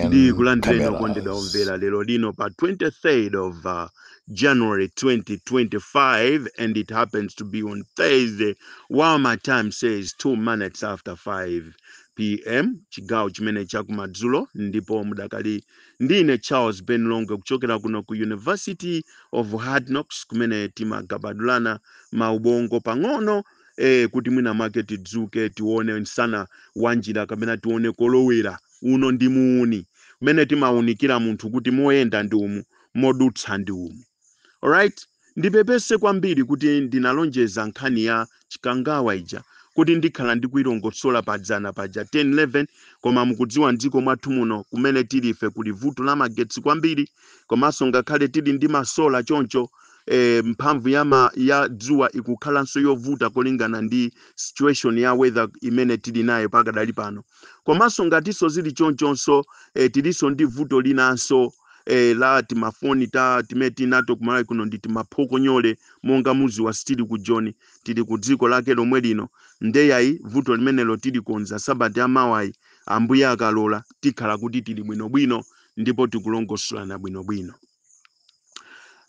Ndikulandireni okondedwa omvera lero lino pa 23rd of uh, January 2025 and it happens to be on Thursday while my time says 2 minutes after 5 pm chigawo chimene chakumadzulo ndipo mudakali ndi ine Charles Ben Longwe kuchokera kuno ku University of Hard Knocks kumene timagabadulana maubongo pang'ono eh, kuti mwina mwake tidzuke tione msana wa njira kapena tione kolowera uno ndi muuni mmene timaunikira munthu kuti moyenda ndi umu modutsa ndi umu alright ndipepese kwambiri kuti ndinalonjeza nkhani ya chikangawa ija kuti ndikhala ndikuilongosola padzana paja 1011 koma mukudziwa mdziko mwathu muno kumene tilife kuli vuto la magetsi kwambiri komanso ngakhale tili ndi masola choncho eh, mphamvu ya, ma, ya dzuwa ikukhalanso yovuta kolingana ndi situation ya weather imene tili nayo pakadali pano komanso ngatinso zili chonchonso eh, tilinso ndi vuto linanso eh, la timafoni timene tili nato kumalawi kuno ndi timaphokonyole monga mudziwa sitili ku joni tili ku dziko lake lomwe lino nde ayi vuto limenelo tilikonza sabata yamawayi, ambuye akalola tikhala kuti tili bwinobwino ndipo tikulongosolana bwinobwino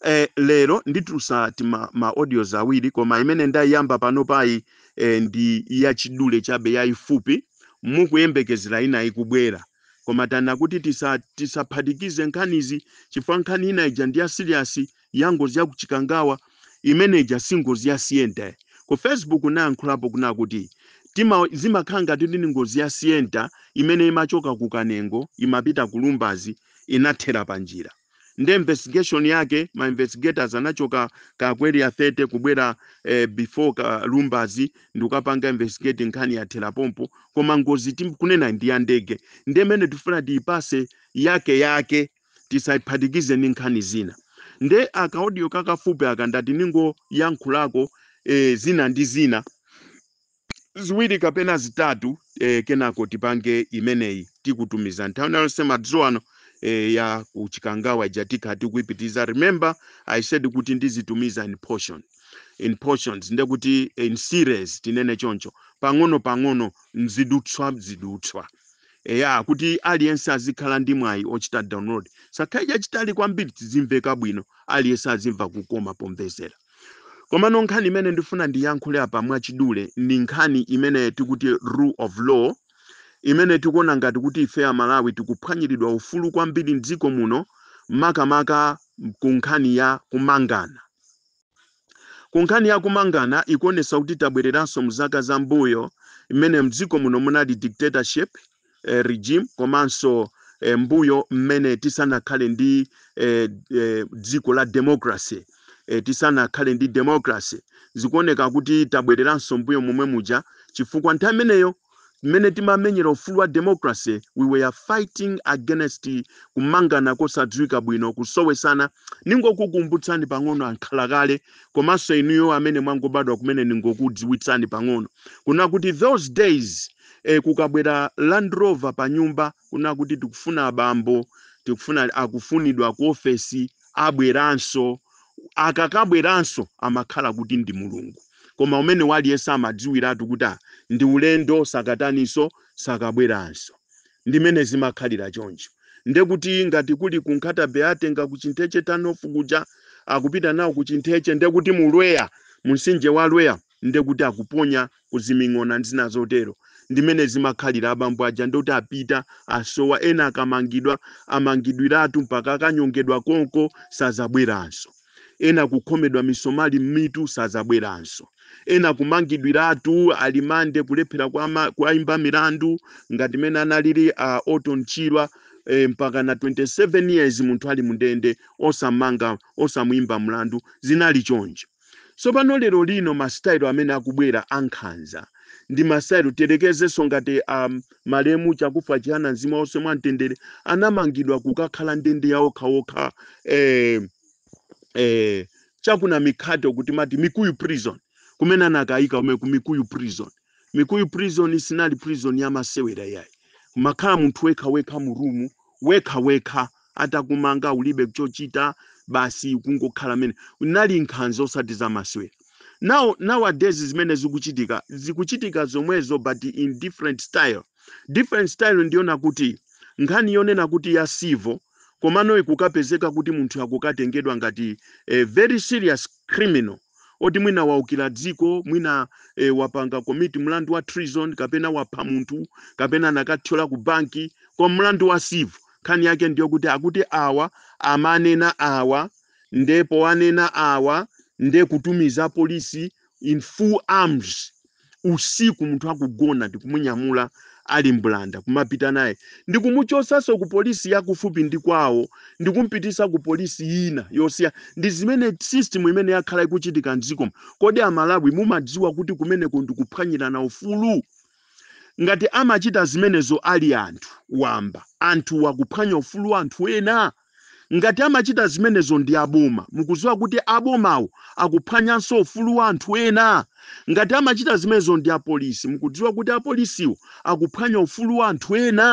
eh, lero nditulutsa tima audios awiri koma imene ndayiyamba panopayi eh, ndi yachidule chabe yayifupi mukuyembekezera inayo ikubwera koma tinati kuti tisa- tisaphatikize nkhanizi chifukwa nkhani ina ija ndi ya serious ya ngozi ya kuchikangawa imene ija si ngozi ya sienta ku facebook ndayankhulapo kunena kuti tima zimakhala ngati ndi ngozi ya sienta imene imachoka ku kanengo imapita ku lumbazi inathera panjira nde investigation yake ma investigators anachoka ku area 30 kubwera eh, before ku lumbazi ndikukapanga investigate nkhani yathera pompo koma ngozi tikunenayi ndi ya ndege ndi imene tifuna tiyipatse yake yake tisayiphatikize ndi nkhani zina nde akaodiyo kakafupi aka ndati ndingoyankhulako eh, zina ndi zina ziwiri kapena zitatu e, kenako tipange imeneyi tikutumiza nthawi inonso madzulo ano e, ya ku Chikangawa ija tikhala tikuipitiriza. Remember I said kuti ndizitumiza in portion in portions nde kuti in series tinene choncho pang'ono pang'ono mzidutswa mzidutswa eya kuti aliyense azikhala ndi mwayi ochita download chisakhale chachitali kwambiri zizimveka bwino aliyense azimva kukoma pomvesera Komano nkhani imene ndifuna ndiyankhule apa mwachidule ndi nkhani imene tikuti rule of law imene tikuona ngati kuti ife Amalawi tikuphwanyiridwa ufulu kwambiri m'dziko muno makamaka ku nkhani ya kumangana. Ku nkhani ya kumangana ikuonetsa kuti tabwereranso mzaka zambuyo imene m'dziko muno munali dictatorship eh, regime komanso eh, mbuyo mmene tisanakhale ndi eh, eh, dziko la democracy eh, tisanakhale ndi democracy zikuoneka kuti tabwereranso mbuyo momwe muja chifukwa nthawi imeneyo mmene timamenyera ufulu wa democracy we were fighting against kumangana kosadziwika bwino kusowesana ningokukumbutsani pang'ono ankhala kale komanso inuyo amene mwangobadwa kumene ningokudziwitsani pang'ono kuna kuti those days e, kukabwera Land Rover pa nyumba kuna kuti tikufuna abambo, tikufuna akufunidwa ku ofesi, abweranso. Akakabweranso amakhala kuti ndi Mulungu. Koma umene waliyense amadziwiratu kuti ah, ndi ulendo sakataniso sakabweranso. Ndimene zimakhalira choncho. Nde kuti ngati kuli ku Nkhata Bay atenga ku Chintheche Turn-off kuja akupita nawo ku Chintheche nde kuti mu Lweya, mu mtsinje wa Lweya nde kuti akuponya ku ziming'ona ndi zina zotero ndimene zimakhalira abambo aja ndoti apita asowa ena akamangidwa amangidwiratu mpaka akanyongedwa konko sazabweranso ena kukhomedwa misomali m'mitu sazabweranso ena kumangidwiratu alimande kulephera kuama- kuwaimba milandu ngati mene analili a Orton Chirwa eh, mpaka na 27 years munthu ali mu ndende osamanga osamuimba mlandu zinali choncho Tsopano, lero lino, masitayiro amene akubwera a nkhanza, ndi masitayiro, tiyerekezenso ngati a, malemu Chakufwa Chihana, mzimu wawo uwuse mwa mtendere, anamangidwa kukakhala ndende ya okha okha, eh, eh, cha ku Namikhate uku timati Mikuyu Prison, kumene anakayika kumene ku Mikuyu Prison. mikuyu prison sinali prison ya masewera yayi umakhala munthu wekha wekha mu room wekha wekha atakumanga ulibe chochita basi kungokhala mene unali nkhanza osati za masewera now nowadays zimene zikuchitika zikuchitika zomwezo but in different style different style ndiona kuti nkhani yonena kuti ya civil komano ikukapezeka kuti munthu akukatengedwa ngati a very serious criminal oti mwina waukira dziko mwina e, wapanga commit mlandu wa treason kapena wapha munthu kapena anakathyola ku banki kwa mlandu wa civil nkhani yake ndiyo kuti akuti awa amanena awa nde powanena awa nde kutumiza polisi in full arms usiku munthu akugona ndikumunyamula ali mbulanda kumapita naye ndikumuchosanso ku polisi yakufupi ndi kwawo ndikumpitisa ku polisi ina yosiya ndi zimene system imene yakhala ikuchitika mdziko muno kodi amalawi mumadziwa kuti kumeneko ndikuphwanyirana ufulu ngati amachita zimenezo ali anthu wamba anthu wakuphwanya ufulu wa anthu ena Ngati amachita zimenezo ndi aboma, mukudziwa kuti abomawo akuphwanyanso ufulu wa anthu ena? Ngati amachita zimenezo ndi apolisi, mukudziwa kuti apolisiwo akuphwanya ufulu wa anthu ena?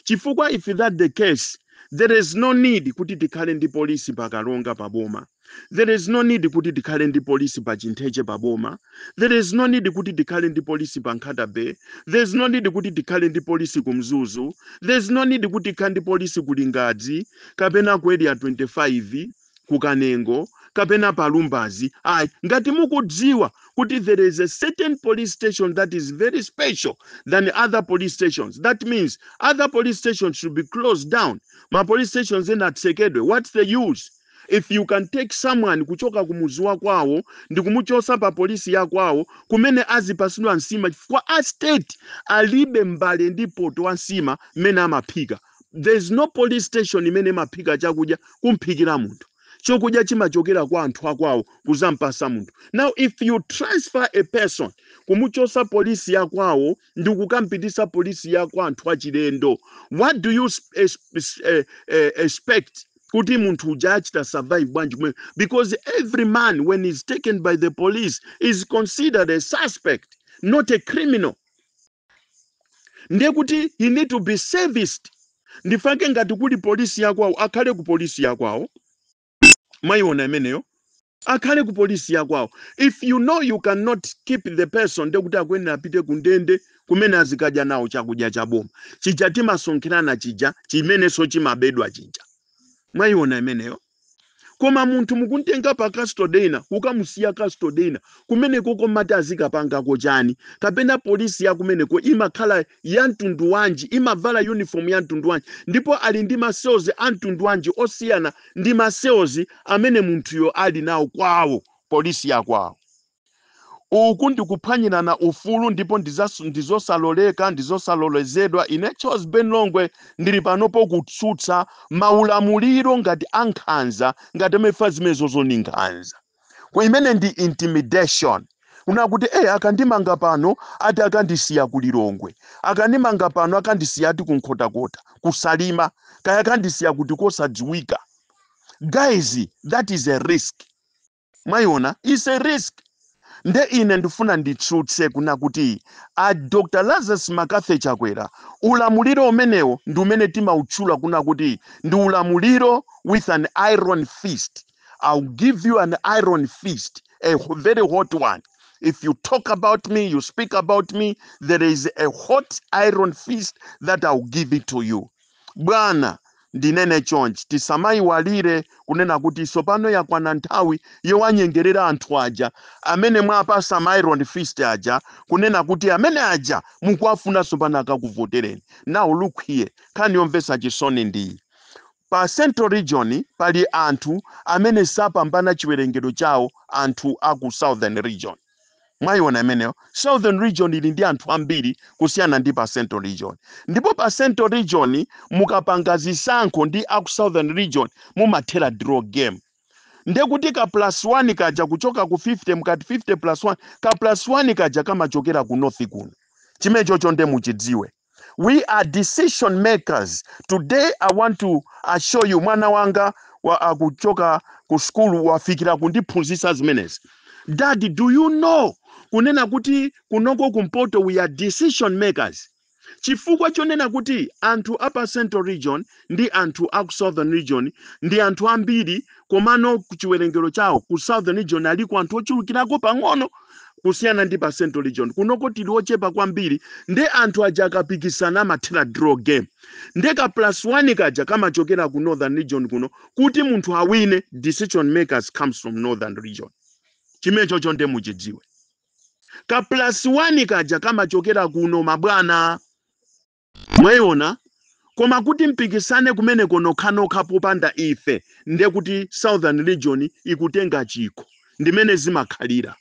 Chifukwa if that the case, there is no need kuti tikhale ndi polisi pa Karonga pa boma. There is no need kuti tikhale ndi polisi pa Chintheche pa boma. There is no need kuti tikhale ndi polisi pa Nkhata Bay. There is no need kuti tikhale ndi polisi ku Mzuzu. There is no need kuti tikhale ndi polisi ku Lingadzi kapena ku Area 25 ku Kanengo kapena pa Lumbazi. Ayi, ngati mukudziwa kuti there is a certain police station that is very special than other police stations. That means other police stations should be closed down. Ma police stations ena atsekedwe. What's the use? if you can take someone kuchoka ku muzi wa kwawo ndikumuchosa pa polisi ya kwawo kumene azipasidwa nsima chifukwa a state alibe mbale ndi poto wa nsima mmene amaphika there is no police station imene imaphika chakudya kumphikira munthu chokudya chimachokera kwa anthu akwawo kuzampasa munthu now if you transfer a person kumuchosa polisi ya kwawo ndi kukampitisa polisi ya kwa anthu achilendo what do you sp- es- es- eh, eh, expect kuti munthu uja achita survive bwanji kumeneko because every man when is taken by the police is considered a suspect not a criminal ndiye kuti he need to be serviced ndifake ngati kuli polisi yakwawo akhale ku polisi yakwawo mwayiona imeneyo Akhale ku police ya kwawo. If you know you can not keep the person ndiye kuti akuyenera apite ku ndende kumene azikadya nawo chakudya cha boma chija timasonkherana chija chimenenso chimabedwa chija. Mwayiona imeneyo? Koma munthu mukumtenga pa custody ina kukamusiya custody ina kumeneko mumati azikapangako chani? Kapena police ya kumeneko imakhala ya mtundu wanji? Imavala uniform ya mtundu wanji? Ndipo ali ndi ma cells a mtundu wanji osiyana ndi ma cells amene munthuyo ali nawo kwawo, police ya kwawo. Uku ndi kuphwanyirana ufulu ndipo ndi zosaloleka, ndi zosalolezedwa. Ine Charles Ben Longwe ndili panopo kutsutsa ma ulamuliro ngati a nkhanza ngati amenewa chifukwa zimenezozo ndi nkhanza. Ku- imene ndi intimidation kuna kuti eh akandimanga pano ati akandisiya ku lilongwe akandimanga pano akandisiya ati ku nkhotakota kusalima kaya akandisiya kuti kosadziwika guys that is a risk mwayiona is a risk nde ine ndifuna nditsutse kuna kuti a dr lazarus mccarthy chakwera ulamuliro umenewo ndi umene timautchula kuna kuti ndi ulamuliro with an iron fist I'll give you an iron fist, a h- very hot one. If you talk about me, you speak about me, there is a hot iron fist that I'll give it to you. Bwana, ndinene chonchi tisamaiwalire kunena kuti tsopano yakwana nthawi yowanyengerera anthu aja amene mwapasa ma iron fist aja kunena kuti amene aja mukuwafuna tsopano akakuvotereni. Now look here, nkhani yomvetsa chisoni ndi Pa Central Region pali anthu amene sapambana chiwerengero chawo anthu a ku Southern Region. Mwaiona imeneyo? Southern Region ili ndi anthu ambiri kusiyana ndi pa Central Region. Ndipo pa Central Region mukapanga zisankho ndi a ku Southern Region mumathera draw game. Ndiye kuti ka plus 1 kaja kuchoka ku 50 mukati 50 plus 1, ka plus 1 kaja kamachokera ku North kuno. Chimenechocho ndiye muchidziwe. we are decision makers today i want to assure you mwana wanga akuchoka ku skulu wafikira kundiphunzitsa zimenezi dadi do you know kunena kuti kunoko kumpoto we are decision makers chifukwa chonena kuti anthu apa central region ndi anthu aku southern region ndi anthu ambiri komano ku chiwerengero chawo ku southern region aliko anthu ochulukirako pang'ono kusiyana ndi pa central region kunoko tili ochepa kwambiri nde anthu aja akapikisana amathera draw game nde ka plus one kaja kamachokera ku northern region kuno kuti munthu awine decision makers comes from northern region chimenechocho nde muchidziwe ka plus one kaja kamachokera kuno mabwana Mwayiona? Koma kuti mpikisane kumeneko nokhanokha popanda ife, ndiye kuti Southern Region ikutenga chikho. Ndi mmene zimakhalira.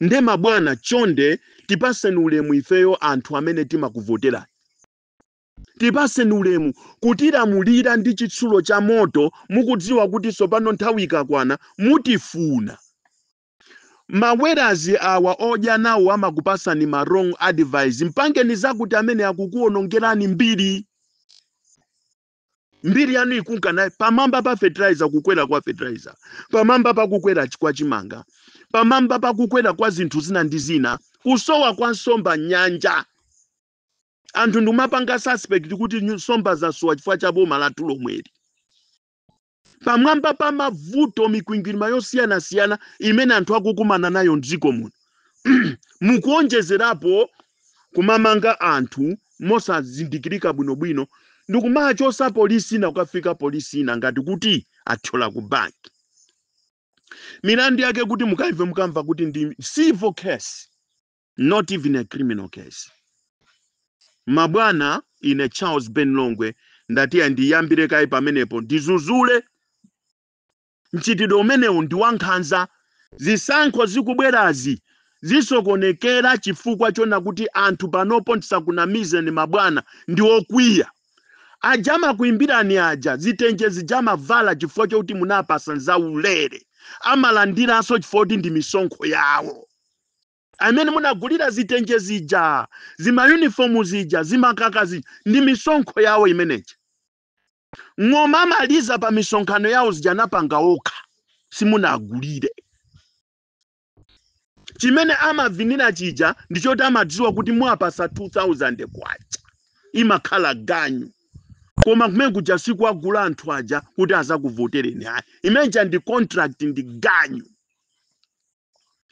Ndiye mabwana, chonde tipatseni ulemu ifeyo anthu amene timakuvoterani. Tipatseni ulemu. Kutilamulira ndi chitsulo cha moto mukudziwa kuti tsopano nthawi ikakwana mutifuna. mawerazi awa odya nawo amakupasani ma wrong advice mpangeni zakuti amene akukuonongerani mbiri mbiri yanu ikunka nayi pamwamba pa fertilizer kukwera kwa fertilizer pamwamba pa kukwera ch- kwa chimanga pamwamba pa kukwera kwa zinthu zina ndi zina kusowa kwa nsomba nyanja anthu ndimapanga suspect kuti nyu- nsomba zasowa chifukwa cha boma lathu lomweli pamwamba pa mavuto mikwingwirima yosiyanasiyana imene anthu akukumana nayo mdziko muno mukuonjezerapo kumamanga anthu mosazindikirika bwinobwino ndikumachosa polisi ina kukafika polisi ina ngati kuti athyola ku banki milandu yake kuti mukaive mukamva kuti ndi civil case not even a criminal case mabwana ine charles ben longwe ndati ndiyambire kaye pamenepo ndizuzule mchitidwe umenewu ndi wankhanza zisankho zikubwerazi zisokonekera chifukwa chona kuti anthu panopo ndisakunamizeni mabwana ndi okwiya aja amakuimbirani aja zitenje zija amavala chifukwa chokuti munawapasa nzaulere amalandiranso chifukwa kuti ndi misonkho yawo amene munagulira zitenje zija, zimayunifomu zija, zimakaka zija, ndi misonkho yawo imene ija. Ng'oma amaliza pa misonkhano yawo zija anapanga okha, simunagulire. Chimene amavinira chija ndi choti amadziwa kuti muwapatsa K2,000, imakhala ganyu. Koma kumene kuja sikuwagula anthu aja kuti azakuvotereni ayi. Imene ija ndi contract, ndi ganyu.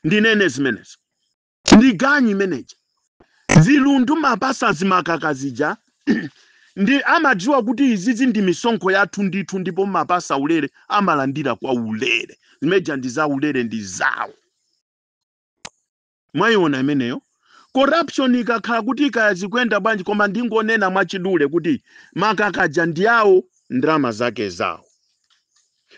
ndinene zimenezo ndi ganyu imeneja zilundu mwapasa zimakaka zija ndi amadziwa kuti izizi ndi misonkho yathu ndithu ndipo mwapasa ulere amalandira kwa ulere zimeneja ndi za ulere ndi zawo mwayiona imeneyo corruption ikakhala kuti ikaya zikuyenda bwanji koma ndingonena mwachidule kuti makakaja ndi awo ndalama zake zawo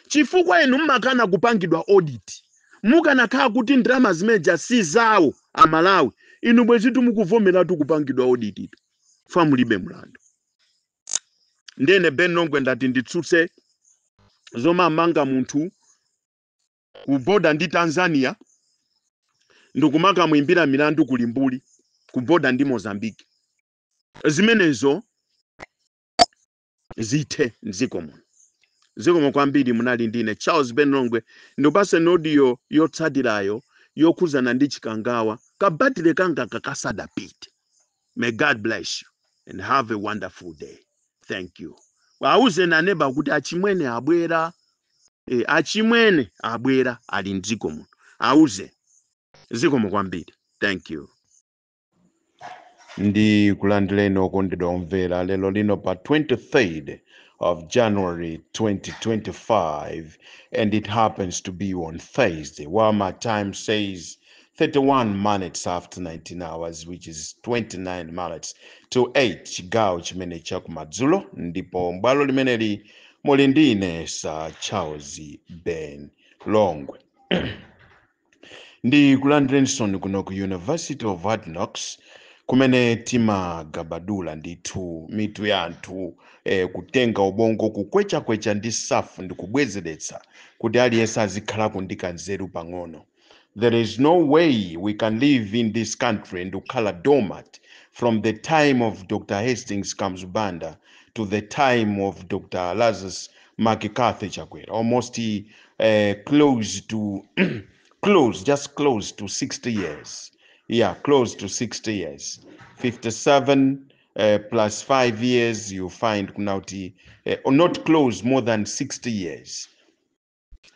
chifukwa inu mmakana kupangidwa audit. Mukanakhala kuti ndalama zimeneja si zawo a Malawi, inu bwezitu mukuvomeratu kupangidwa audit tu, chifukwa mulibe mlandu. Ndiye ine Ben Longwe ndati nditsutse zomamanga munthu ku border ndi Tanzania ndikumakamuimbira milandu ku Limbuli ku border ndi Mozambique. Zimenezo zithe mdziko muno. Zikomo kwambiri munali ndine Charles Ben Longwe ndipaseni audio yotsatirayo yokhudzana ndi Chikangawa ka battery kangaka kasadapite. May God bless you and have a wonderful day. Thank you. Awuzeni aneba kuti achimwene abwera. Achimwene abwera ali mdziko muno. Awuzeni. Zikomo kwambiri. Thank you. ndikulandireni okondedwa omvera lero lino pa 23rd of January 2025 and it happens to be on Thursday while my time says 31 minutes after 19 hours which is 29 minutes to 8 chigawo chimene chakumadzulo ndipo m'bwalo limeneli muli ndi ine Sir Charles Ben Longwe ndikulandireninso kuno ku university of hard knocks kumene timagabadula ndithu mitu ya anthu eh, kutenga ubongo kukwechakwecha ndi safu ndi kubwezeretsa kuti aliyense azikhalako ndi kanzeru pang'ono there is no way we can live in this country and kukhala dormant from the time of dr hastings kamuzu banda to the time of dr lazarus McCarthy Chakwera almost uh, close to close just close to 60 years yeah close to 60 years 57 uh, plus 5 years you find kunauti uh, or not close more than 60 years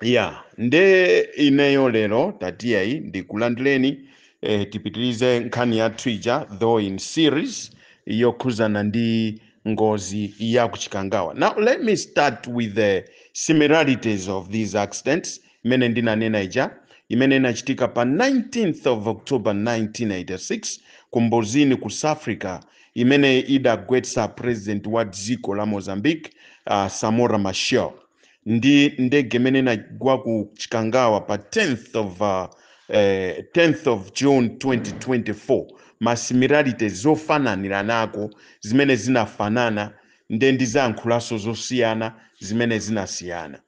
yeah nde ineyo lero tatiyayi ndikulandireni eh, tipitirize nkhani yathu ija though in series yokhuzana ndi ngozi ya ku chikangawa now let me start with the similarities of these accidents imene ndinanena ija imene inachitika pa 19th of october 1986 ku mbuzini ku south africa imene idagwetsa president wa dziko la mozambique uh, samora machel ndi ndege imene inagwa ku chikangawa pa 10th of uh, eh, 10th of june 2024 masimilarity zofananiranako zimene zinafanana nde ndizayankhulanso zosiyana zimene zinasiyana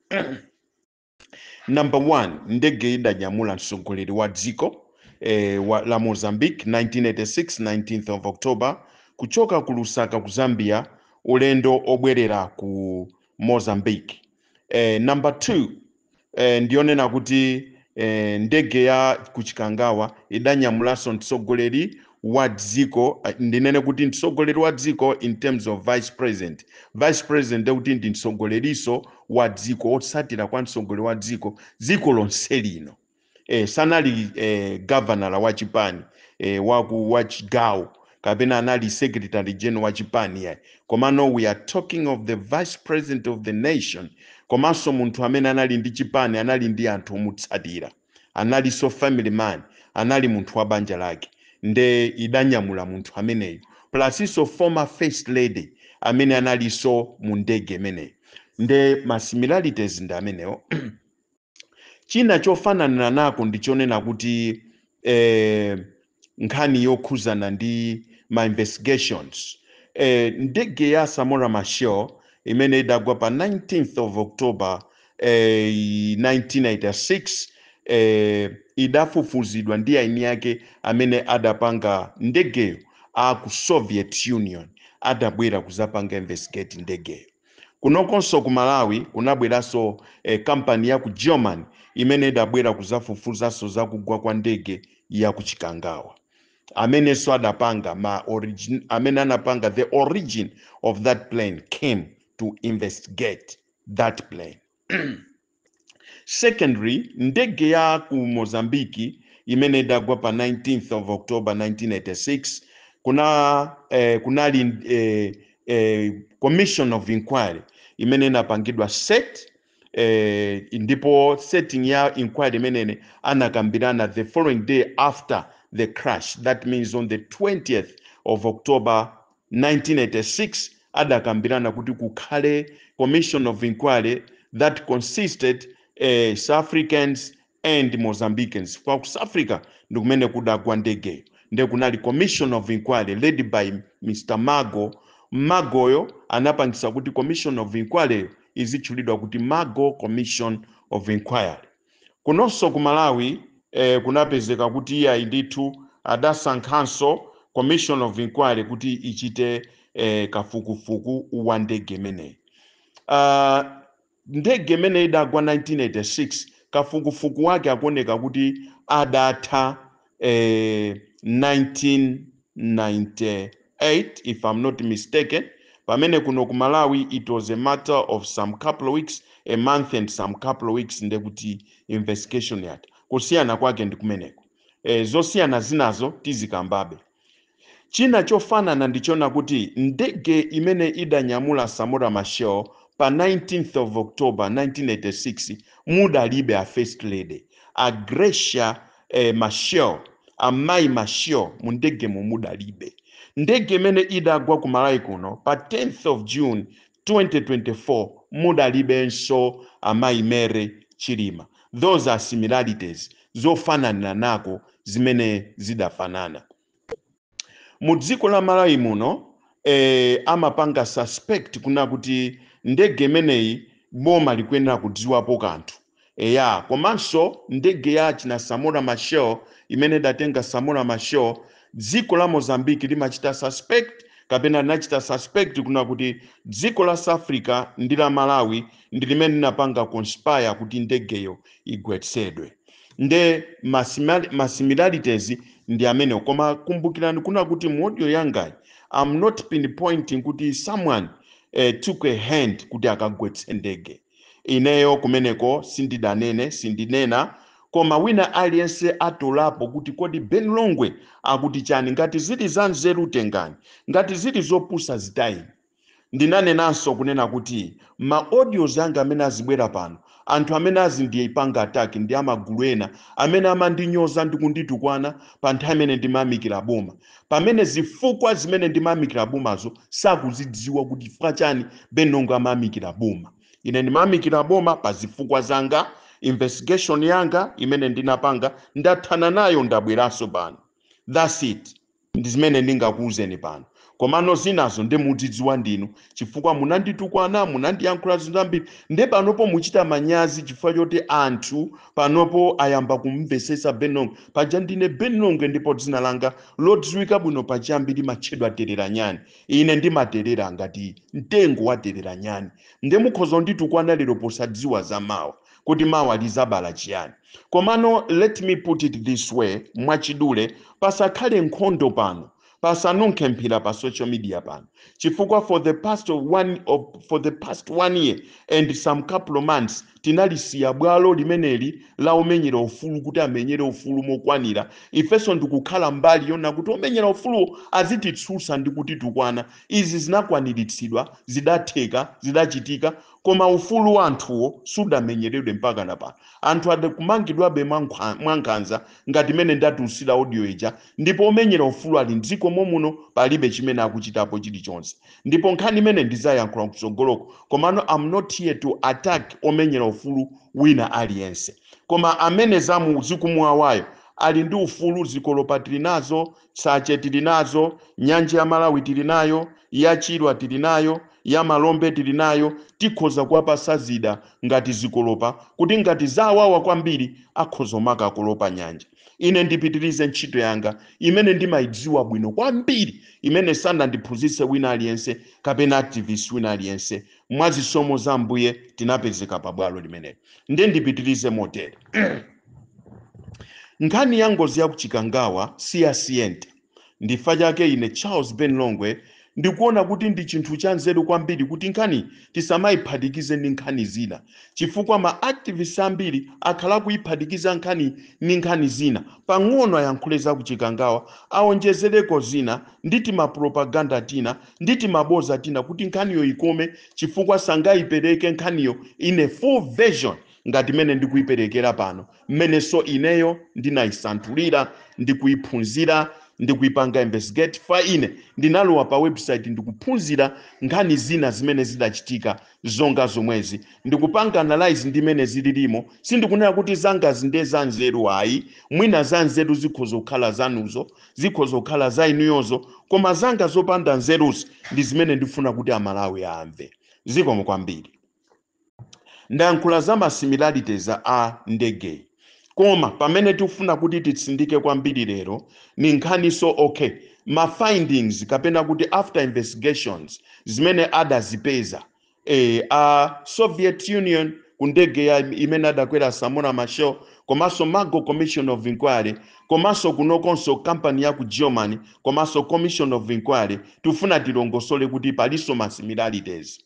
number one ndege idanyamula mtsogoleri wa dziko eh, wa, la mozambique 1986 19th of october kuchoka ku lusaka ku zambia ulendo obwerera ku mozambique eh, number two eh, ndi yonena kuti eh, ndege ya kuchikangawa idanyamulanso mtsogoleri wa dziko eh, ndinene kuti mtsogoleri wa dziko in terms of vice president vice president ndekuti ndi mtsogolerinso wa dziko wotsatira kwa mtsogoleri wa dziko dziko lonse lino eh, sanali eh, gavanala wa chipani eh, waku wa chigawo kapena anali secretary general wa chipani yayi komano we are talking of the vice president of the nation komanso munthu amene anali ndi chipani anali ndi anthu omutsatira analinso family man anali munthu wa banja lake nde idanyamula munthu ameneyo plusinso former first lady amene analinso mu ndege imeneyo nde ma similarities ndi amenewo China chofananira nako ndi chonena kuti eh, nkhani yokhuzana ndi ma investigations eh, ndege ya Samora Machel imene idagwa pa 19th of October eh, 1986 eh, idafufuzidwa ndi eni ake amene adapanga ndegeyo a ku Soviet Union adabwera kuzapanga investigate ndegeyo Kunokonso ku Malawi kunabweranso eh, kampani ya ku German imene idabwera kuzafufuzanso za kugwa kwa ndege ya ku Chikangawa amenenso adapanga ma origin, amene anapanga the origin of that plane came to investigate that plane secondly ndege ya ku mozambique imene idagwa pa 19th of october 1986 kuna eh, kunali eh, eh, commission of inquiry imene inapangidwa set eh, ndipo setting ya inquiry imene anakambirana the following day after the crash that means on the 20th of october 1986 adakambirana kuti kukhale commission of inquiry that consisted South Africans and Mozambicans. Kwa ku South Africa ndi kumene kudagwa ndegeyo nde kunali commission of inquiry led by Mr. Margo. Margoyo anapangisa kuti commission of inquiry yo izitchulidwa kuti Margo Commission of Inquiry. Kunonso ku Malawi eh, kunapezeka kuti iyayi ndithu adasankhanso commission of inquiry kuti ichite eh, kafukufuku wa ndege imeneyi. Ah, ndege imene idagwa 1986 kafukufuku wake akuoneka kuti adatha eh, 1998 if I'm not mistaken pamene kuno ku malawi it was a matter of some couple of weeks a month and some couple of weeks ndekuti investigation yatha kusiyana kwake ndi kumeneko eh, zosiyana zinazo tizikambabe China chofanana ndichona kuti ndege imene idanyamula Samora Machel pa 19th of October 1986 mudalibe a First Lady, a Graça eh Machel, a Mayi Machel mundegemo mudalibe. Ndege imene idagwa ku Malawi kuno pa 10th of June. 2024 mudalibenso amayi Mary Chilima those are similarities zofananiranako zimene zidafanana mu dziko la Malawi muno eh, amapanga suspect kuna kuti ndege imeneyi boma likuyenera kudziwapo kanthu Eya, komanso ndege ya achina Samora Machel imene idatenga Samora Machel, dziko la Mozambique limachita suspect kapena linachita suspect kunena kuti dziko la South Africa ndi la Malawi ndi limene linapanga conspire kuti ndegeyo igwetsedwe. Nde ma sima- ma similarities ndi amene. Koma kumbukirani kunena kuti mu audio yangayi I'm not pinpointing kuti someone eh, took a hand kuti akagwetse ndege. Ineyo kumeneko sindidanene, sindinena koma wina aliyense atolapo kuti kodi Ben Longwe akuti chani ngati zili za nzeru tengani ngati zili zopusa zitayeni. Ndinanenanso kunena kuti ma audios anga amene azibwera pano anthu amene azindipanga attack ndi amagulu ena amene amandinyoza ndi kunditukwana pa nthawi imene ndimayamikira boma pamene zifukwa zimene ndimayamikira bomazo sakuzidziwa kuti chifukwa chani ben longwe amayamikira boma ine ndimayamikira boma pa zifukwa zanga investigation yanga imene ndinapanga ndathana nayo ndabweranso pano thats it ndi zimene ndingakuwuzeni pano komano zinazo ndi muzidziwa ndinu chifukwa munanditukwana munandiyankhula zambiri nde panopo muchita manyazi chifukwa choti anthu panopo ayamba kumvetsetsa ben longwe paja ndine ben longwe ndipo dzina langa lodziwika bwino pachiyambi limatchedwa tereranyani ine ndimaterera ngati mtengo wa tereranyani nde mukhoza nditukwana lero posadziwa za mawa kuti mawa lizabala chiyani komano let me put it this way mwachidule pasakhale nkhondo pano pasanunkhe mphira pa social media pano chifukwa for the past one year and some couple of months tinalisiya bwalo limeneli la omenyera ufulu kuti amenyere ufulu mokwanira ifenso ndikukhala mbali yona kuti omenyera ufulu azititsutsa ndi kutitukwana izi zinakwaniritsidwa zidatheka zidachitika koma ufulu wa anthuwo sudamenyeredwe mpaka na pano anthu adakumangidwabe mwankhanza ngati mene ndatulusira audio ija Ndipo omenyera ufulu ali mdziko momuno palibe chimene akuchitapo chilichonse ndipo nkhani imeneyi ndizayankhula kutsogoloko komano am not here to attack omenyera ufulu wina aliyense koma amene zamu zikumuwawayo ali ndi ufulu zikolopa tili nazo tsache tili nazo nyanja ya malawi tili nayo ya chilwa tili nayo ya malombe tili nayo tikhoza kuwapasa zida ngati zikolopa kuti ngati zawawa kwambiri akhoza umakakolopa nyanja ine ndipitirize ntchito yanga imene ndimayidziwa bwino kwambiri imene sanandiphunzitse wina aliyense kapena activist wina aliyense mwa zisomo za mbuye tinapezeka pa bwalo limeneli ndiye ndipitirize motere nkhani ya ngozi ya ku Chikangawa si ya siyente Ndi fa chake ine Charles Ben Longwe ndikuona kuti ndi chinthu chanzeru kwambiri kuti nkhani tisamayiphatikize ndi nkhani zina chifukwa ma activists ambiri akhala kuyiphatikiza nkhani ndi nkhani zina, pang'ono ayankhule za ku Chikangawa, awonjezereko zina ndi tima propaganda tina ndi timaboza tina kuti nkhaniyo ikome chifukwa sangayipereke nkhaniyo in a full version ngati mmene ndikuyiperekera pano. mmenenso ineyo ndinayisanthulira ndi kuyiphunzira ndi kuyipanga investigate fa ine ndinalowa pa website ndikuphunzira nkhani zina zimene zidachitika zonga zomwezi ndikupanga analyze ndi mene zililimo sindikunena kuti zangazi ndiye za nzeru ayi mwina za nzeru zikhoza kukhala zanuzo zikhoza kukhala za inuyozo koma zanga zopanda nzeruzi ndi zimene ndifuna kuti amalawi amve zikomo kwambiri Ndayankhula za ma similarities a ndegeyi koma pamene tikufuna kuti titsindike kwambiri lero ni nkhaninso ok ma findings kapena kuti after investigations zimene adazipeza eh, a Soviet Union ku ndegeyi imene adakwera Samora Machel komanso Margo Commission of Inquiry komanso kunokonso kampani ya ku Germany komanso Commission of Inquiry tikufuna tilongosole kuti palinso ma similarities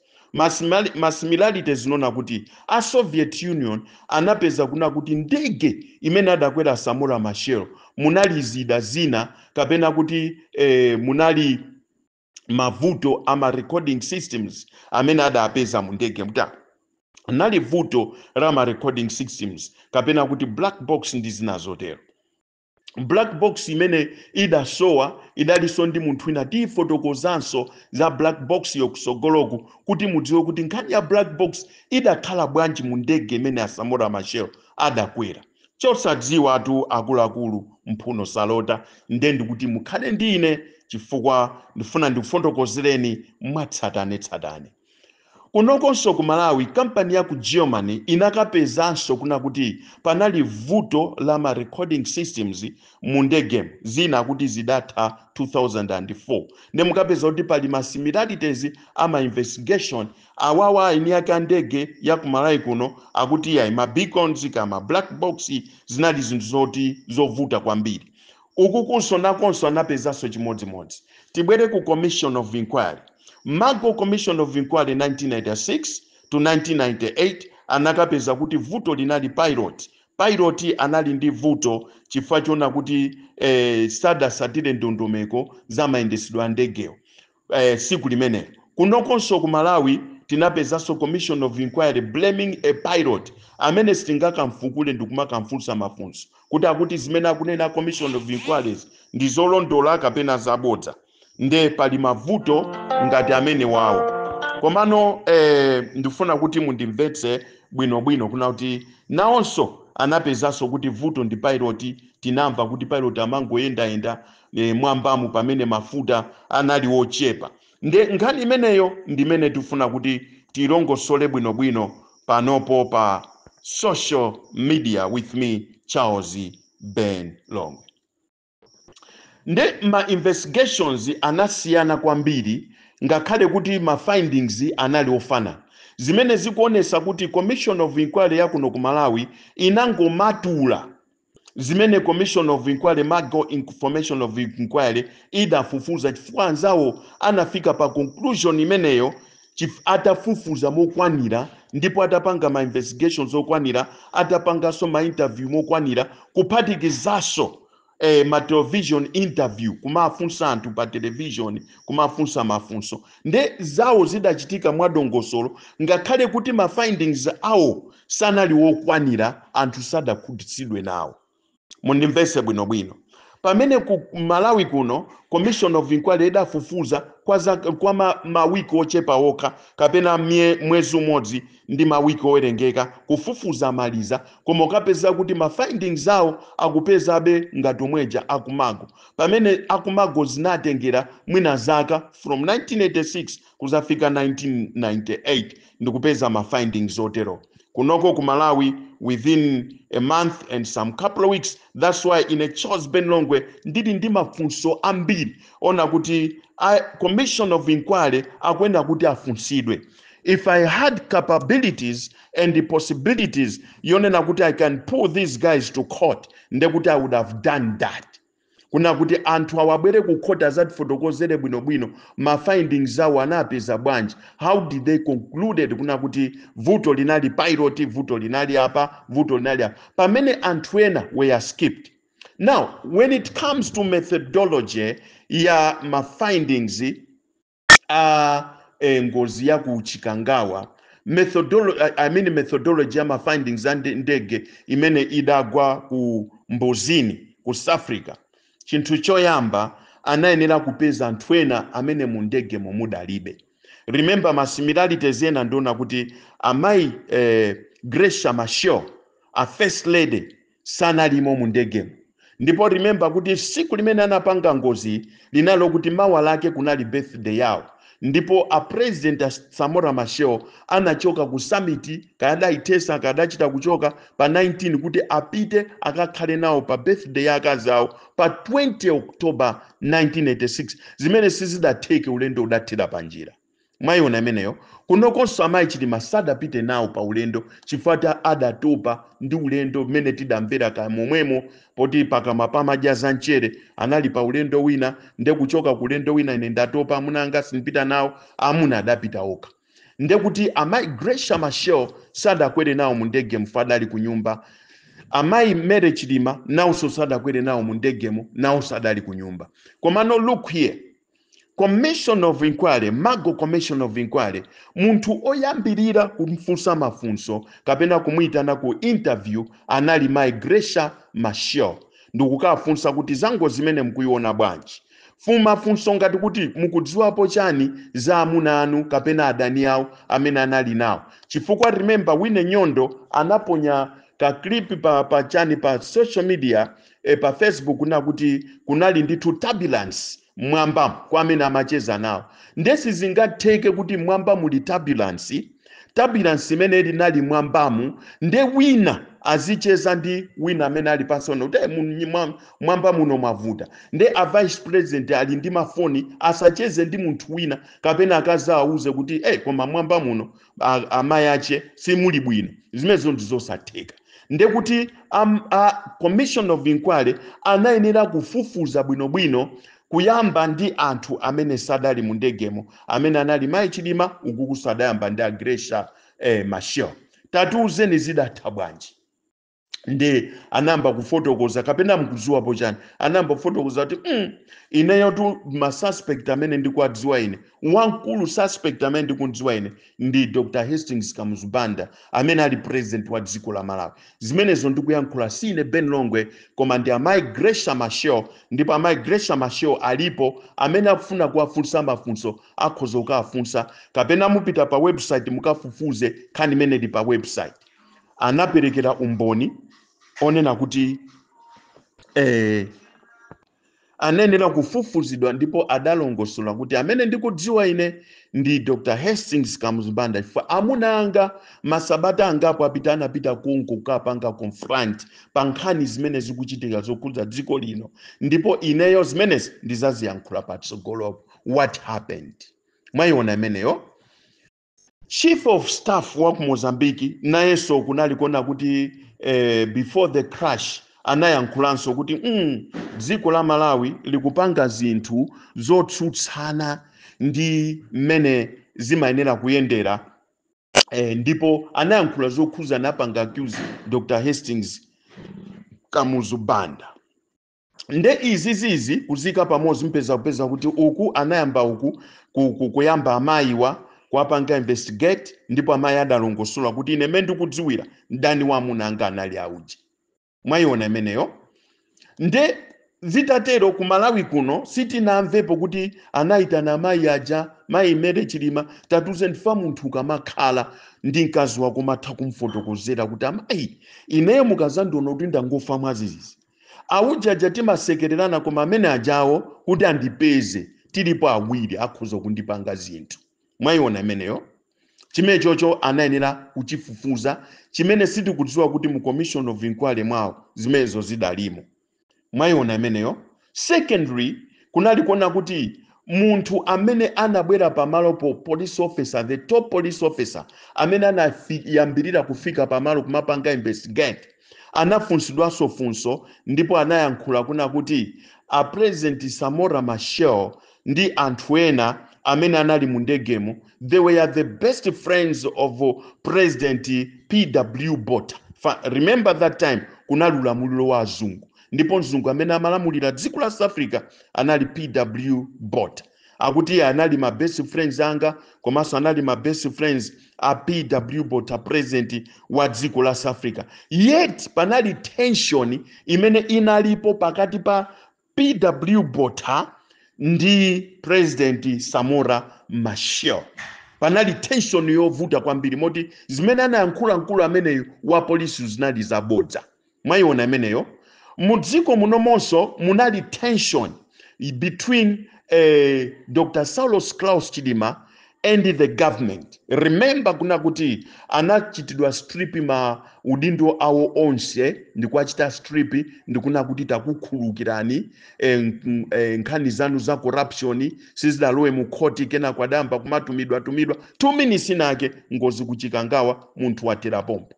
masimilarity n'zonena kuti a soviet union anapeza kunena kuti ndege imene adakwera samora machel munali zida zina kapena kuti eh, munali mavuto a ma recording systems amene adapeza mu ndegemu panali vuto la ma recording systems kapena kuti black box ndi zina zotero black box imene idasowa idalinso ndi munthu wina tiyifotokozanso za black boxyo kutsogoloku kuti mudziwe kuti nkhani ya black box idakhala bwanji mu ndege imene a samora machel adakwera chosadziwatu akuluakulu mphuno salota nde ndikuti mukhale ndi ine chifukwa ndifuna ndikufotokozereni mwatsatanetsatane Kunokonso ku Malawi kampani ya ku Germany inakapezanso kunena kuti panali vuto la ma recording systems mu ndegemu, zina akuti zidatha 2004. Nde mukapeza kuti pali ma similarities a ma investigation awawa eni ake a ndege ya ku Malawi kuno akuti iyayi ma beacons kaya ma black box zinali zinthu zoti zovuta kwambiri. Ukukonso nakonso anapezanso chimodzimodzi. Tibwere ku Commission of Inquiry. Margo Commission of Inquiry 1996 to 1998 anakapeza kuti vuto linali pilot. Pilot anali ndi vuto chifukwa chonena kuti eh, sadasatire ndondomeko za mayendetsedwe a ndegewo. eh, tsiku limenelo kunokonso ku malawi tinapezanso commission of inquiry blaming a pilot amene sitingakamfukule ndikumakamfunsa mafunso kuti akuti zimene akunena a commission of inquiryzi ndi zolondola kapena zabodza nde pali mavuto ngati amenewawo komano eh, ndifuna kuti mundimvetse bwinobwino kunena kuti nawonso anapezanso kuti vuto ndi pilot tinamva kuti pilot amangoyendayenda e, m'mwambamu pamene mafuta anali ochepa nde nkhani imeneyo ndimene tifuna kuti tilongosole bwinobwino panopo pa social media with me charles ben longwe nde ma investigations anasiyana kwambiri ngakhale kuti ma findings anali ofanana zimene zikuonesa kuti commission of inquiry yakuno ku malawi inangomatula zimene commission of inquiry Margo commission of inquiry idafufuza chifukwa anzawo anafika pa conclusion imeneyo chif- atafufuza mokwanira ndipo atapanga ma investigations okwanira atapanganso ma interview mokwanira kuphatikizanso eh, ma television interview kumafunsa anthu pa television kumafunsa mafunso nde zawo zidachitika mwadongosolo ngakhale kuti ma findings awo sanali wokwanira, anthu sadakhutitsidwe nawo. Mundimvetse bwinobwino. Pamene ku Malawi kuno Commission of Inquiry idafufuza kwa, za, kwa ma, mawiki ochepa okha kapena mye, mwezi umodzi ndi mawiki owerengeka kufufuza amaliza, koma ukapeza kuti ma findings awo akupezabe ngati omweja aku Margo pamene akumago zinatengera mwina zaka from 1986 kuzafika 1998 ndikupeza ma findings otero kunoko ku malawi within a month and some couple of weeks that's why ine charles ben longwe ndili ndi mafunso ambiri onena kuti a commission of inquiry akuyenera kuti afunsidwe if i had capabilities and the possibilities yonena kuti i can pull these guys to court ndekuti i would have done that kunena kuti anthu awa abwere ku court azatifotokozere bwinobwino ma findings awo anapeza bwanji how did they concluded kunena kuti vuto linali pilot vuto linali apa vuto linali apa pamene anthu ena were skipped now when it comes to methodology ya ma findings a eh, ngozi ya ku chikangawa methodolo I- i mean methodology ya ma findings a nde- ndege imene idagwa ku mbuzini ku south africa chinthu choyamba anayenera kupeza anthu ena amene mu ndege mumudalibe remember ma similarities ena ndi onena kuti amayi eh, Graça Machel a first lady sanalimo mu ndegemo ndipo remember kuti siku limene anapanga ngozi linali lokuti mawa lake kunali birthday yawo ndipo a president a samora machel anachoka ku summit kaya adaithetsa kaya adachita kuchoka pa 19 kuti apite akakhale nawo pa birthday ya akazi awo pa 20 october 1986 zimene sizidatheke ulendo udathera panjira mwayiona imeneyo kunokonso amayi chilima sadapite nawo pa ulendo chifukwa ati adatopa ndi ulendo mmene tidamvera kaya momwemo poti pakamwa pamadya za mchere anali pa ulendo wina nde kuchoka ku ulendo wina ine ndatopa amuna anga sindipita nawo amuna adapita okha nde kuti amayi Graça Machel sadakwere nawo mu ndegemo adali ku nyumba amayi Mary chilima nawonso sadakwere nawo mu ndegemo nawonso adali ku nyumba komano look here commission of inquiry Margo commission of inquiry munthu oyambirira kumfunsa mafunso kapena kumuyitana ku interview anali mai Graça Machel ndikukafunsa kuti za ngozi imene mukuiona bwanji mafunso ngati kuti mukudziwapo chani za amuna anu kapena adani awo amene anali nawo chifukwa remember wine nyondo anaponya ka clip pa, pa chani pa social media eh, pa facebook nakuti kunali ndithu turbulence mmwambamo kwa amene amacheza nawo nde sizingatheke kuti mmwamba muli turbulence turbulence imene ili nali mwambamu nde wina azicheza ndi wina amene ali pansi onena kuti "Eh, mu- nyi- mwa- mwamba muno mwavuta nde a vice president ali ndi mafoni asacheze ndi munthu wina kapena akazawo awauze kuti hey, koma mwamba muno a- amayi ache simuli bwino zimenezo ndizosatheka ndiye kuti um, a commission of inquiry anayenera kufufuza bwinobwino kuyamba ndi anthu amene sadali mu ndegemo amene anali mayi Chilima ukuku adayamba ndi a Graça eh, Machel tatiuzeni zidatha bwanji nde anayamba kufotokoza kapena mkudziwapo chani anayamba kufotokoza kuti mm, ineyotu masuspect amene ndikuwadziwa ine wamkulu suspect amene ndikumdziwa ine ndi dr hastings kamuzu banda amene ali president wa dziko la malawi zimenezo ndikuyankhula si ine ben longwe koma ndi amayi Graça Machel ndipo amayi Graça Machel alipo amene akufuna kuwafunsa mafunso akhoza kukawafunsa kapena mupite pa website mukafufuze nkhani imene ili pa website anaperekera umboni onena kuti eh, anayenera kufufuzidwa ndipo adalongosola kuti amene ndikudziwa ine ndi Dr. Hastings Kamuzu Banda chifukwa amuna anga masabata angapo apita anapita kuno kukapanga confront pa nkhani zimene zikuchitika zokhudza dziko lino ndipo ineyo zimenezi ndizaziyankhula patsogolopa what happened mwayiona imeneyo Chief of staff wa ku Mozambique nayenso kunali kuona kuti eh, before the crash anayankhulanso kuti mm, dziko la Malawi likupanga zinthu zotsutsana ndi mmene zimayenera kuyendera eh, ndipo anayankhula zokhuza anapanga accuse Dr. Hastings Kamuzu Banda. nde izizizi kuziika pamodzi mpheza kupeza kuti uku anayamba uku ku- ku- kuyamba amayiwa kuwapanga investigate ndipo amayi adalongosola kuti ine mmene ndikudziwira mdani wa amuna anga anali auje mwayiona imeneyo nde zitatero ku malawi kuno sitinamvepo kuti anayitana amayi aja mayi Mary Chilima tatiuzeni chifukwa munthu ukamakhala ndi mkazi wako umatha kumfotokozera kuti amayi ineyo mukazandiona kuti ndangofa mwadzidzidzi aujaja timasekererana koma amene ajawo kuti andipeze tilipo awiri akhoza kundipanga zinthu mwayiona imeneyo chimenechocho anayenera kuchifufuza chimene sitikudziwa kuti mu commission of inquiry mwawo zimenezo zidalimo mwayiona imeneyo secondly kunali kuona kuti munthu amene anabwera pamalopo police officer the top police officer amene anayambirira kufika pamalo kumapanga investigate anafunsidwanso funso ndipo anayankhula kuna kuti a president Samora Machel ndi anthu ena amene anali mu ndegemo they were the best friends of president PW Botha remember that time kunali ulamuliro wa azungu ndipo mzungu amene amalamulira dziko la South Africa anali PW Botha akuti iye anali ma best friends anga komanso anali ma best friends a pw botha president wa dziko la south africa yet panali tension imene inalipo pakati pa pw botha ndi president samora machel panali tension yovuta kwambiri moti zimene anayankhula mkulu ameneyu wa polisi zinali zabodza Mwaiona imeneyo? Mu dziko munomonso munali tension between eh, Dr. Saulos Klaus Chilima and the government. Remember kuna kuti anachitidwa strip ma udindo awo onse ndikuwachita strip ndikuna kuti takukhulukirani eh, nk- eh, nkhani zanu za corruption sizidalowe mu khoti kenako adayamba kumatumidwa tumidwa 2 minutes inake ngozi ku Chikangawa munthu wathera pompo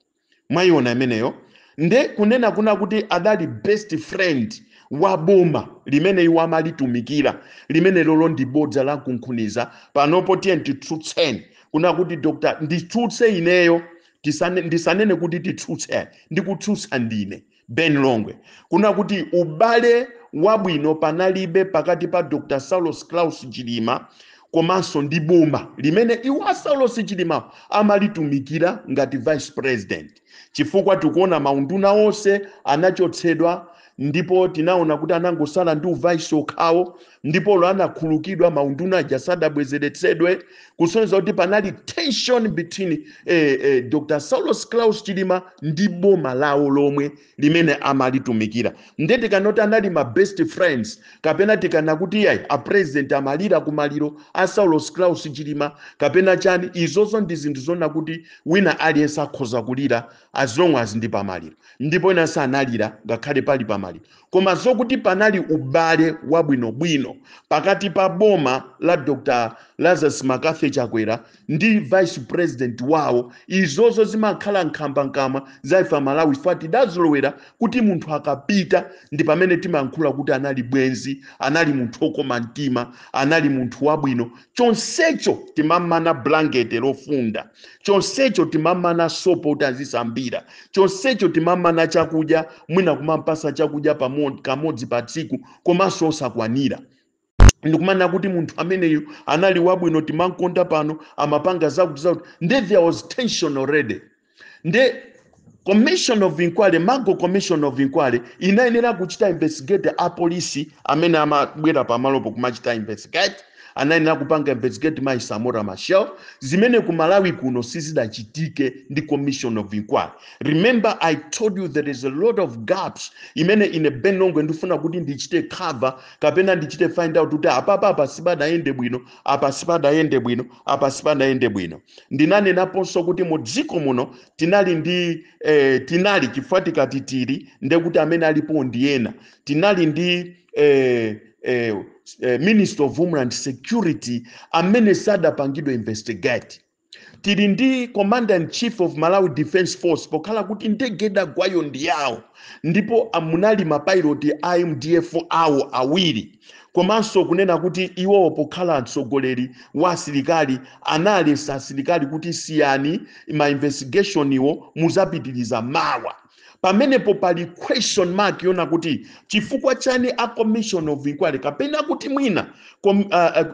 mwayiona imeneyo nde kunena kuna kuti adali best friend wa boma limene iwo amalitumikira limene lolo ndi bodza la mkunkhuniza panopo tiyeni titsutseni kuna kuti dr nditsutse ineyo tisane, ndisanene kuti titsutse ndikutsutsa ndine ben longwe kuna kuti ubale wabwino panalibe pakati pa dr saulos klaus chilima komanso ndi boma limene iwo a saulos chilima amalitumikira ngati vice president chifukwa tikuona maunduna onse anachotsedwa ndipo tinaona kuti anangosala ndi uvice okhawo ndipo lo anakhulukidwa maunduna aja sadabwezeretsedwe kusonyeza kuti panali tension between eh, eh, dr saulos claus chilima ndi boma lawo lomwe limene amalitumikira nde tikanena kuti anali ma best friends kapena tikanena kuti yayi a president amalira ku maliro a saulos claus chilima kapena chani izozo ndi zinthu zona kuti wina aliyense akhoza kulira as long as ndi pamaliro ndipo ena sanalire ngakhale pali pamaliro koma zokuti panali ubale wabwinobwino pakati pa boma la dr lazarus mccarthy chakwera ndi vice president wawo izozo zimakhala nkhambankamwa za ife amalawi chifukwa tidazolowera kuti munthu akapita ndi pamene timayankhula kuti anali bwenzi anali munthu okoma mtima anali munthu wabwino chonsecho timamana blankete lofunda chonsecho timamana sopo kuti azisambira chonsecho timamana chakudya mwina kumampasa chakudya pamo- kamodzi pa tsiku komanso osakwanira ndikumanena kuti munthu ameneyu anali wabwino timankonda pano amapanga zakuti zakuti nde there was tension already nde commission of inquiry malo mwa commission of inquiry inayenera kuchita investigate apolisi amene amabwera pamalopo kumachita investigate anayenera kupanga investigate mayi samora machel zimene ku malawi kuno sizidachitike ndi commission of inquiry remember i told you there is a lot of gaps imene ine benongwe ndifuna kuti ndichite cover kapena ndichite find out kuti apapa apa sipadayende bwino apa sipadayende bwino apa sipadayende bwino ndinanenaponso kuti mu dziko muno tinali ndi eh, tinali chifukwa tikati tili nde kuti amene alipo ndi ena tinali ndi eh, eh, eh, minister of homeland security amene sadapangidwe investigate tili ndi commander in chief of malawi defense force pokhala kuti ndege idagwayo ndi yawo ndipo munali mapiloti a mdf awo awiri komanso kunena kuti iwo pokhala mtsogoleri wa asilikali analesa asilikali kuti siyani ma investigation-wo muzapitiriza mawa pamenepo pali question mark yona kuti chifukwa chani a commission of inquiry kapena kuti mwina kom, uh,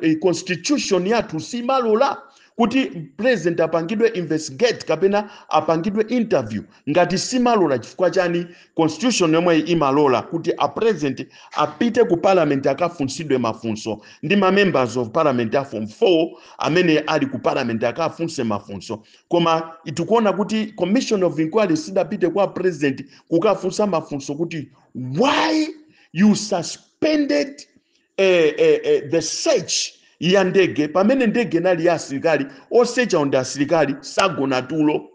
uh, constitution yathu simalola kuti president apangidwe investigate kapena apangidwe interview Ngati simalola chifukwa chani constitution yomweyi imalola kuti a president apite ku parliament akafunsidwe mafunso ndi ma members of parliament a form 4 amene ali ku parliament akafunse mafunso koma ife tikuona kuti commission of inquiry sidapite kwa president kukafunsa mafunso kuti why you suspended eh, eh, eh, the search ya ndege pamene ndege inali ya asilikali osechawo ndi asilikali sagona tulo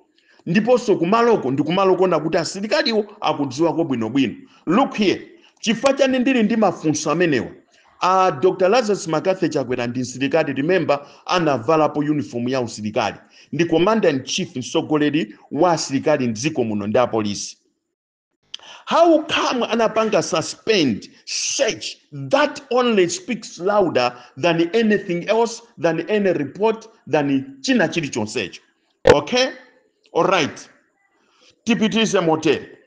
ndiponso kumaloko ndi kumalo konena kuti asilikaliwo akudziwako bwinobwino look here chifukwa chani ndili ndi mafunso amenewa a dr lazarus mccarthy chakwera ndi msilikali remember anavalapo uniform ya usilikali ndi commander in chief mtsogoleri wa asilikali mdziko muno ndi apolisi how come anapanga suspend search that only speaks louder than anything else than any report than china chilichonsecho okay alright tipitirize motere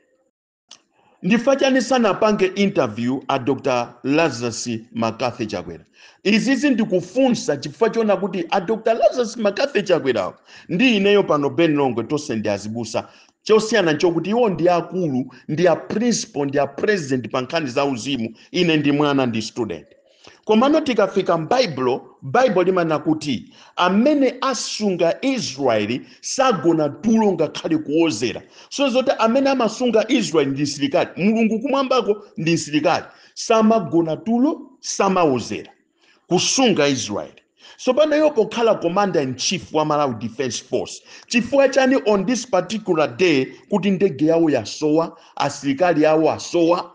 ndifa chani sanapange interview a dr lazarus mccarthy chakwera izizi ndikufunsa chifukwa chona kuti a dr lazarus mccarthy chakwerawo ndi ineyo pano Ben Longwe tonse ndi azibusa chosiyana nchokuti iwo ndi akulu ndi a principal ndi a president pa nkhani za uzimu ine ndi mwana ndi student komano tikafika m'baibulo baibulo limanena kuti amene asunga israeli sagona tulo ngakhale kuwozera so ndi zoti amene amasunga israeli ndi msilikali mulungu kumwambako ndi msilikali samagona tulo samawozera kusunga israeli tsopano iwo pokhala commander in chief wa malawi defense force chifukwa chani on this particular day kuti ndege yawo yasowa asilikali awo asowa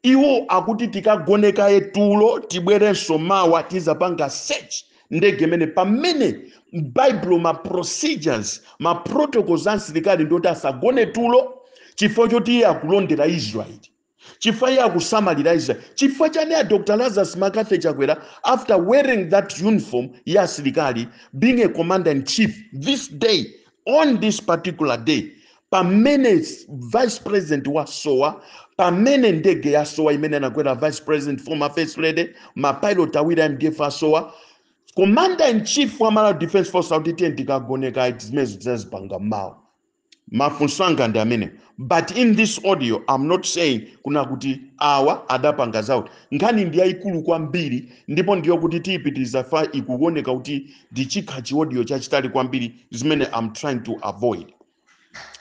iwo akuti tikagone kaye tulo tibwerenso mawa tizapanga search ndege mmene pamene m'baibulo ma procedures ma protocols a msilikali ndioti asagone tulo chifukwa choti iye akulondera israeli chifukwa iye akusamalira israeli chifukwa chani a dr lazarus mccarthy chakwera after wearing that uniform ya asilikali being a commander in chief this day on this particular day pamene vice president wasowa pamene ndege yasowa imene anakwera vice president former first lady mapilot awiri a mdf asowa commander in chief wa malawi defense force akuti tiyeni tikagone kaye zimenezo tizazipanga mawa mafunso anga ndi amenewo but in this audio i'm not saying kunena kuti awa adapanga zawo nkhani ndi yayikulu kwambiri ndipo ndi yokuti tiyipitiriza chifukwa ikuoneka kuti chikhala chi audio chachitali kwambiri zimene i'm trying to avoid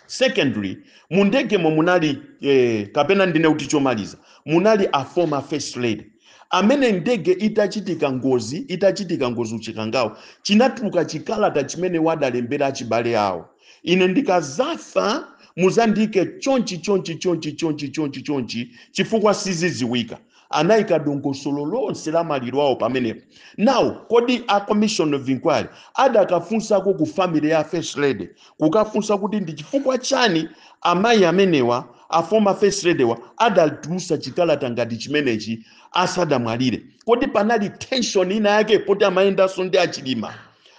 secondly mu ndegemo munali eh, kapena ndinene kuti chomaliza munali a former first lady amene ndege itachitika ngozi itachitika ngozi uchikangawo chinatuluka chikalata chimene adalembera achibale awo ine ndikazafa muzandike chonchi chonchi chonchi chonchi chonchi chonchi chifukwa siziziwika anayika dongosolo lonse la maliro awo pamenepo now kodi a commission of inquiry adakafunsako ku family ya a first lady kukafunsa kuti ndi chifukwa chani amayi amenewa a former first lady wa adatulusa chikalata ngati chimenechi asadamwalire kodi panali tension ina yake poti amayendanso ndi achilima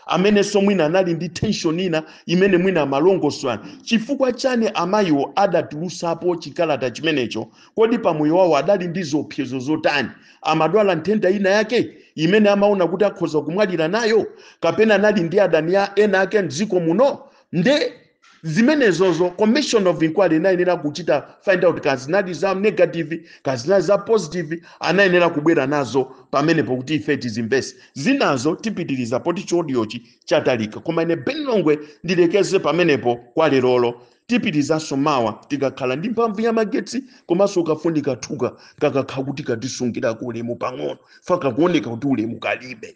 amenenso mwina anali ndi tension ina imene mwina amalongosolerana chifukwa chani amayiwo adatulusapo chikalata chimenecho kodi pamoyo wawo adali ndi ziopsezo zotani amadwala nthenda ina yake imene amaona kuti akhoza kumwalira nayo kapena anali ndi adani ena ake mdziko muno nde zimenezozo commission of inquiry inayenera kuchita find out kazinali za negative kazinali za positive anayenera kubwera nazo pamenepo kuti ife tizimve zinazo tipitiriza poti chi audiochi chatalika koma ine ben longwe ndilekeze pamenepo kwa lerolo tipitirizanso mawa tikakhala ndi mphamvu ya magetsi komanso kafunika thuka kakakhala kuti katisungirako ulemu pang'ono faka kuoneka kuti ulemu kalibe